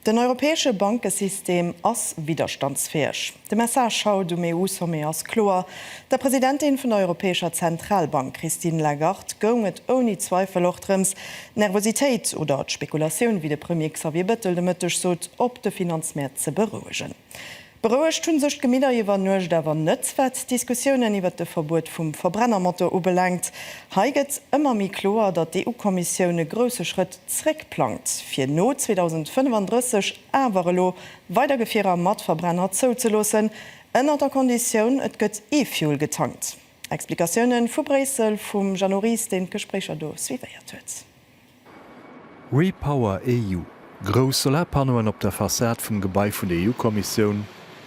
Den europäesche Bankesystem ass widderstandsfäeg. De Message haut um EU-Sommet ass kloer, Der Presidentin vun der Europäescher Zentralbank Christine Lagarde goung et ouni Zweifel och drëms, d'Nervositéit oder d'Spekulatioun, wéi de Premier Xavier Bettel de Mëtteg sot, op de Finanzmäert ze berouegen. Berouegt hunn sech d'Gemidder iwwer Nuecht awer net, wat d'Diskussiounen iwwert de Verbuet vum Verbrennermotor ubelaangt. Hei gëtt ëmmer méi kloer, datt d'EU-Kommissioun e grousse Schrëtt zréck plangt, fir no 2035 awer elo weider Gefierer mat Verbrenner zouzeloossen, ënnert der Konditioun, et gëtt E-Fuel getankt. Explikatiounen vu Bréissel vum Jeannot Ries, deen d'Gespréicher do suivéiert huet. REPowerEU, Grouss Solarpannoen op der Fassad vum Gebai vun der EU-Kommissioun,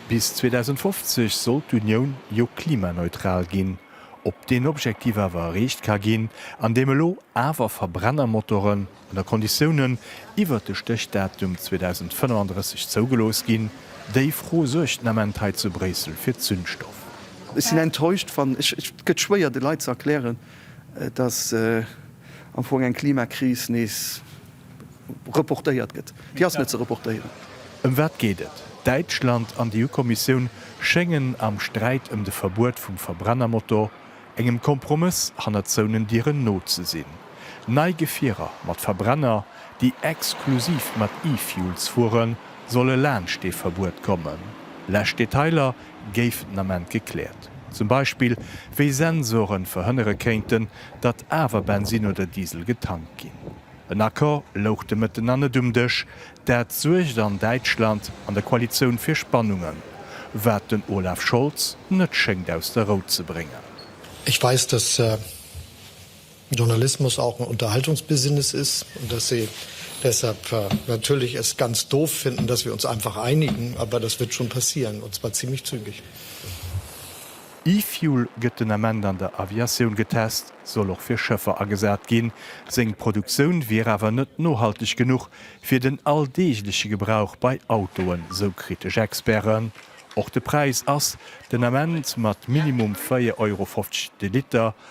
Bis 2050 soll d'Unioun jo klimaneutral ginn. Ob deen Objektiv awer erreecht ka ginn, andeem elo awer Verbrennermotoren, ënner Konditiounen, iwwert de Stéchdatum 2035 zougelooss ginn, déi Fro suergt den Ament hei zu Bréissel fir Zündstoff. Ech sinn enttäuscht, wann, et gëtt schwéier de Leit ze erklären, Et ass am Fong eng Klimakris nees reportéiert gëtt. Déi ass net ze reportéieren. Ëm wat geet et? Däitschland an d'EU-Kommissioun schéngen am Sträit ëm de Verbuet vum Verbrennermotor engem Kompromëss hannert zouenen Dieren no ze sinn. Nei Gefierer mat Verbrenner, déi exklusiv mat E-Fuels fueren, solle laanscht dee Verbuet kommen. Lescht Detailer géifen den Ament gekläert. Zum Beispill, wéi Sensoren verhënnere kéinten, datt awer Bensin oder Diesel getankt ginn. En Accord louch de Mëtten nach net um Dësch. Dat suergt an Däitschland an der Koalitioun fir Spannungen, wat den Olaf Scholz net schéngt aus der Rou ze bréngen. Ech weis, dass Journalismus auch ein Unterhaltungsbusiness ist und dass sie deshalb natürlich es ganz doof finden, dass wir uns einfach einigen, aber das wird schon passieren, und zwar ziemlich zügig. E-Fuel gëtt den Ament an der Aviatioun getest, soll och fir Schëffer agesat ginn. Seng Produktioun wier awer net nohalteg genuch fir den alldeegleche Gebrauch bei Autoen, sou kritesch Experten. Och de Präis ass den Ament mat minimum 4,50 Euro de Liter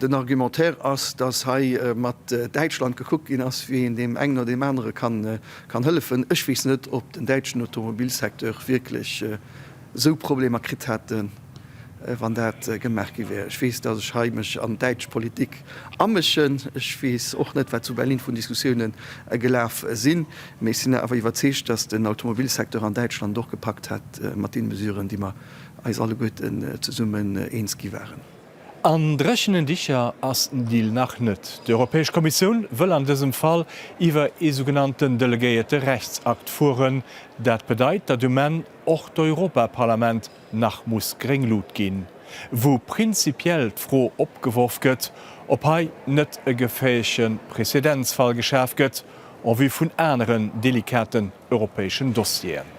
Den Argumentaire ass, dass hei mat Däitschland gekuckt ginn ass, wéi een deem engen oder deem anere kann hëllefen. Ech weess net, ob den däitschen Automobilsecteur wierklech esou Problemer kritt hätt, wann dat gemaach gi wär. Ech weess, dass ech hei mech an däitsch Politik amëschen. Ech weess och net, wat zu Berlin vun Diskussioune gelaf sinn. Mee ech sinn awer iwwerzeegt, dass den Automobilsecteur an Däitschland et och gepackt hätt mat deene Mesuren, déi mer eis alleguerten zesummen eens gi waren. An dréchenen Dicher ass den Deal nach net. D'Europäesch Kommissioun wëll an dësem Fall iwwer ee sougenannten delegéierte Rechtsakt fueren. Dat bedeit, datt um Enn och d'Europaparlament nach muss gréng Lut ginn. Wou prinzipiell d'Fro opgeworf gëtt, ob hei net e geféierche Prezedenzfall geschaf gëtt en vue vun aneren delikaten europäeschen Dossieren.